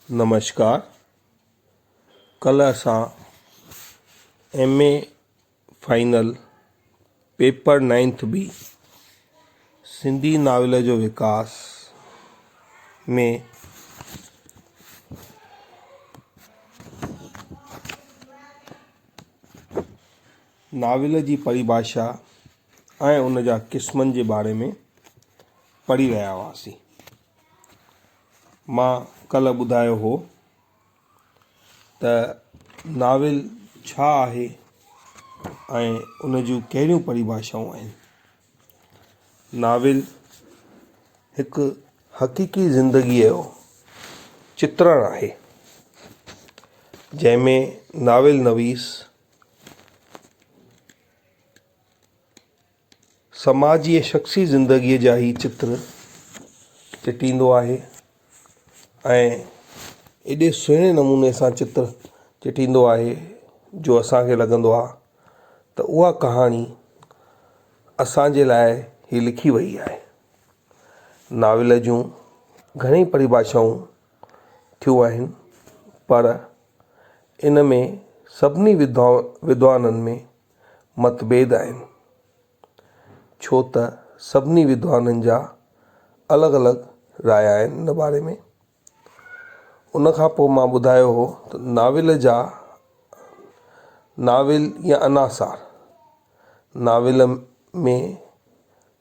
نمشڪار ڪلھ اسان M A final paper ninth B Sindhi novel جو وڪاس ۾ ناول جي پريڀاشا ۽ ان جا قسمن جي باري ۾ پڙھي رھيا ھئاسين مان ڪلهه ٻڌايو هو ته ناول ڇا آهي ۽ ان جون ڪهڙيون پريڀاشائون آهن. ناول هڪ حقيقي زندگيء جو چترڻ آهي، جنهن ۾ ناول نويس، سماجي ۽ شخصي زندگيء جا هي چتر چٽيندو آهي ۽ ايڏي سهڻي نموني سان چتر چٽيندو آهي جو اسان کي لڳندو آهي ته اها ڪهاڻي اسانجي لاء هي لکي وئي آهي. ناول جون گهڻيئي پريڀاشائون ٿيون آهن پر ان ۾ سڀني وڌوان ودوانن ۾. متڀيد آهن، ڇو ته سڀني ودوانن جا الڳ الڳ راء آهن ان باري ۾. ان کان پوء مان ٻڌايو هو ته ناول جا ناول يا عناصار، ناول ۾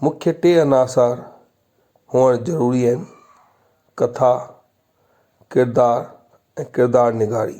مکيه ٽي عناصار هئڻ ضروري آهن، ڪٿا، ڪردار ۽ ڪردار نگاري.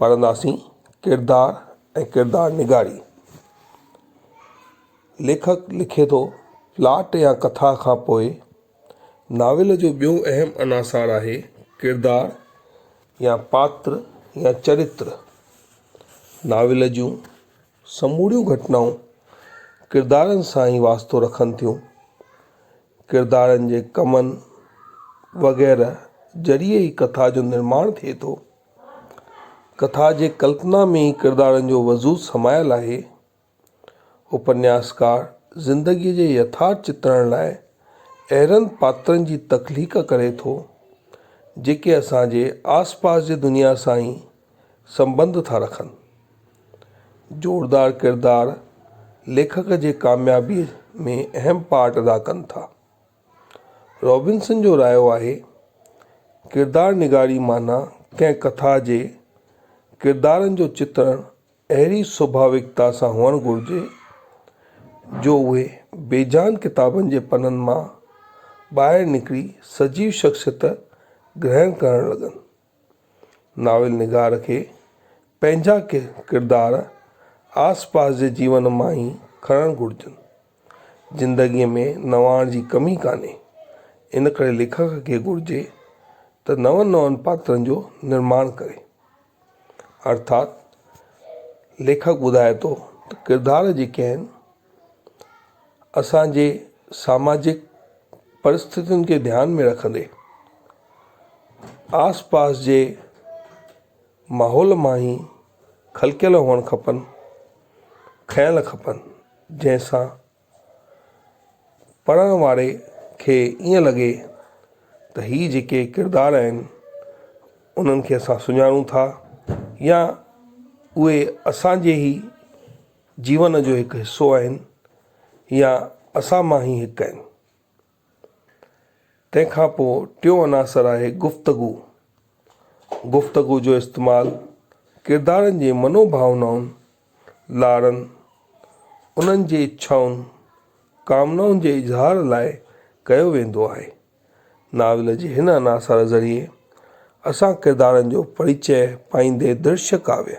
پڙهنداسين ڪردار ۽ ڪردار نگاري. ليکڪ لکي ٿو، پلاٽ يا ڪٿا کان پوء ناول جو ٻيو اهم عناصر آهي ڪردار يا پاتر يا چريتر. ناول جون سموريون گهٽنائون ڪردارن سان ئي واسطو رکن ٿيون. ڪردارن جي ڪمن وغيره ذريعي ئي ڪٿا جو نرماڻ ٿئي ٿو. ڪٿا جي ڪلپنا ۾ ئي ڪردارن جو وجود سمايل آهي. اپنياسڪار زندگيء جي يٿارٿ چترڻ لاء اهڙن پاترن جي تخليق ڪري ٿو، جيڪي اسان جي آس پاس جي دنيا سان ئي سنٻنڌ ٿا رکن. زوردار ڪردار ليکڪ جي ڪاميابيء ۾ اهم پارٽ ادا ڪن ٿا. رابنسن جو رايو آهي، ڪردار نگاري معنيٰ ڪنهن ڪٿا جي ڪردارن جو چترڻ اهڙي سوڀاويڪتا سان هئڻ گهرجي، جو اهي بيجان ڪتابن جي پنن مان ٻاهر نڪري سجيو شخصيت گرهڻ ڪرڻ لڳن. ناول نگار کي پنهنجا ڪردار آس پاس جي جيون مان ئي کڻڻ گهرجن. زندگيء ۾ نواڻ جي ڪمي ڪانهي، ان ڪري ليکڪ کي گهرجي ته نون نون پاترن جو نرماڻ ڪري. ارٿات ليکڪ ٻڌائي ٿو ته ڪردار جي ڪنهن اسان جي ساماجڪ پرستتين کي ڌيان ۾ رکندي آس پاس جي ماحول مان ئي خلقيل هئڻ کپن کيل کپن جنهن سان پڙهڻ واري کي ائين لڳي ته هي جيڪي ڪردار آهن انهن کي اسان سڃاڻون ٿا يا اهي اسان جي هي جيون جو هڪ حصو آهن يا اسان مان ئي هڪ آهن. تنهن کان پوء ٽيون عناصر آهي گفتگو. گفتگو جو استعمال ڪردارن جي منو ڀاونائن، لاڙن، انهن جي اڇائن، ڪامنائن جي اظهار لاء ڪيو ويندو آهي. ناول جي هن عناصر ذريعي اسان ڪردارن جو پريچئه پائيندي درشڪ ڪاويه،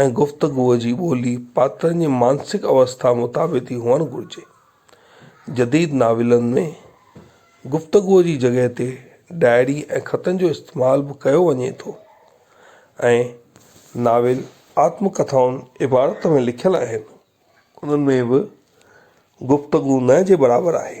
۽ گفتگوء جي ٻولي پاترن جي مانسڪ اوسٿا مطابق ئي هئڻ گهرجي. جديد ناولن ۾ گفتگوء جي جڳهه تي ڊائري ۽ خطن جو استعمال به ڪيو وڃي ٿو ۽ ناول آتم ڪٿائن عبارت ۾ لکيل آهن، انهن ۾ به گفتگو نه جي برابر آهي.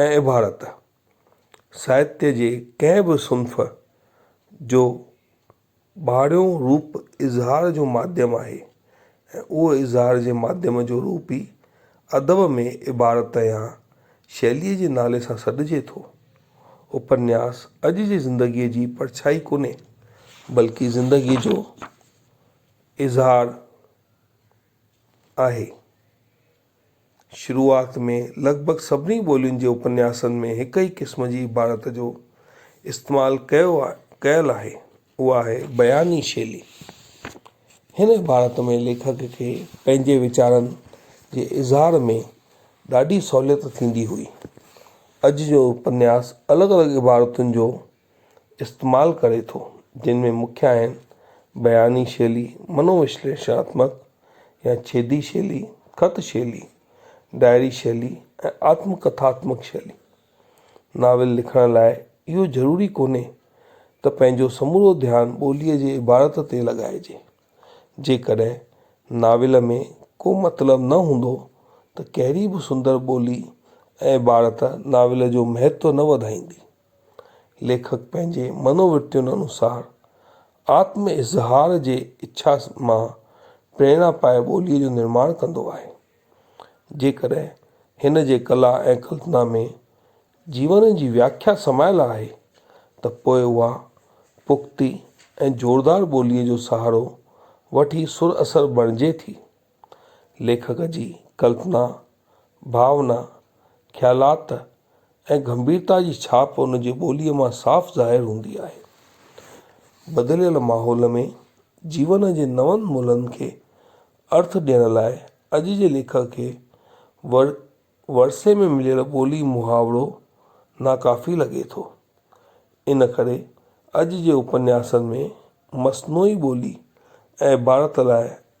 ۽ عبارت ساهتيه جي ڪنهن به صنف جو ٻاهريون روپ اظهار جو ماڌيم آهي ۽ اهو اظهار جي ماڌيم جو روپ ئي ادب ۾ عبارت يا شيليء جي نالي سان سڏجي ٿو. اپنياس اڄ جي زندگيء جي پرڇائي ڪونهي، بلڪه زندگيء جو اظهار آهي. شروعات ۾ لڳ ڀڳ سڀني ٻولين جي اپنياسن ۾ هڪ ئي قسم جي عبارت جو استعمال ڪيو ڪيل آهي، اها آهي بياني شيلي. هن عبارت ۾ ليکڪ کي پنهنجي ويچارن جي اظهار ۾ ڏاڍي سهوليت ٿيندي هئي. اڄ جو اپنياس الڳ الڳ عبارتن جو استعمال ڪري ٿو، جن ۾ مکيه آهن، بياني شيلي، منووشليشڻاتمڪ يا ڇيدي شيلي، خط شيلي، ڊائري شيلي ۽ آتم ڪٿاتمڪ شيلي. ناول لکڻ لاء اهو ضروري ڪونهي ته پنهنجو سمورو ڌيان ٻوليء جي عبارت تي لڳائجي. جيڪڏهن ناول ۾ ڪو مطلب نه هوندو ته ڪهڙي به سندر ٻولي ۽ عبارت ناول جو مهتو نه وڌائيندي. ليکڪ پنهنجي منوورتين انوسار آتم اظهار جي اڇا مان پريرڻا پائي ٻوليء جو نرماڻ ڪندو آهي. جيڪڏهن هن جي ڪلا ۽ ڪلپنا ۾ جيون جي وياکيا سمايل آهي ته پوء اها پختي ۽ زوردار ٻوليء جو سهارو وٺي سر اثر بڻجي ٿي. ليکڪ جي ڪلپنا، ڀاونا، خيالات ۽ گنڀيرتا جي ڇاپ ان جي ٻوليء مان صاف ظاهر هوندي آهي. بدليل ماحول ۾ جيون جي نون ملهن کي ارٿ ڏيڻ لاء اڄ جي ليکڪ کي ورثي ۾ مليل ٻولي محاورو ناڪافي لڳي ٿو. ان ڪري اڄ جي اپنياسن ۾ مصنوعي ٻولي ۽ عبارت لاء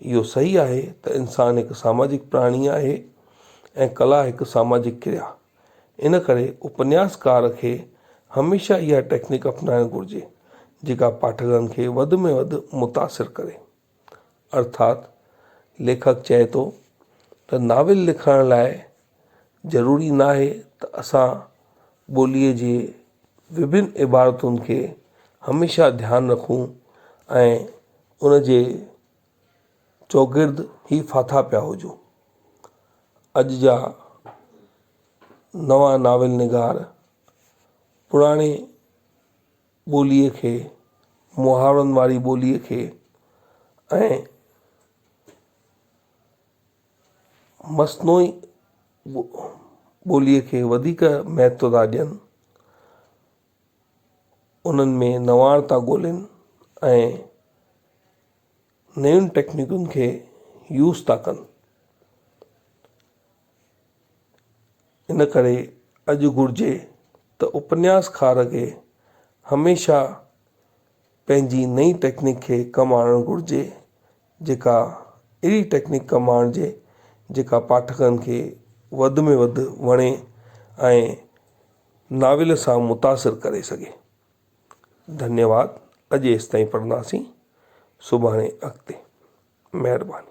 اهو صحيح آهي ته انسان هڪ ساماجڪ پراڻي آهي ۽ ڪلا هڪ ساماجڪ ڪريا. ان ڪري اپنياسڪار کي هميشه اها ٽيڪنڪ اپنائڻ گهرجي جيڪا پاٺڪن کي وڌ ۾ وڌ متاثر ڪري. ارٿات ليکڪ چئي ٿو ته ناول لکڻ لاء ضروري ناهي ته اسان ٻوليء جي وڀن عبارتن کي هميشه ڌيان رکون ۽ ان جي چوگرد ئي ڦاٿا پيا هجون. اڄ جا نوان ناول نگار پراڻي ٻوليء کي محاورن واري ٻوليء کي ۽ مصنوعي ٻوليء کي وڌيڪ مهتو ٿا ڏين، انهن ۾ نواڻ ٿا ڳولين ۽ نين ٽيڪنڪن کي يوز ٿا ڪن. ان ڪري اڄ گهرجي ته اپنياسڪار کي هميشه پنهنجي نئين ٽيڪنڪ کي ڪم آڻڻ گهرجي. جيڪا اهڙي ٽيڪنڪ ڪم آڻجي جيڪا پاٺڪن کي وڌ ۾ وڌ وڻي ۽ ناول سان متاثر ڪري سگهي ڌنيواد اڄ ايستائين پڙهنداسين سڀاڻي اڳتي مهرباني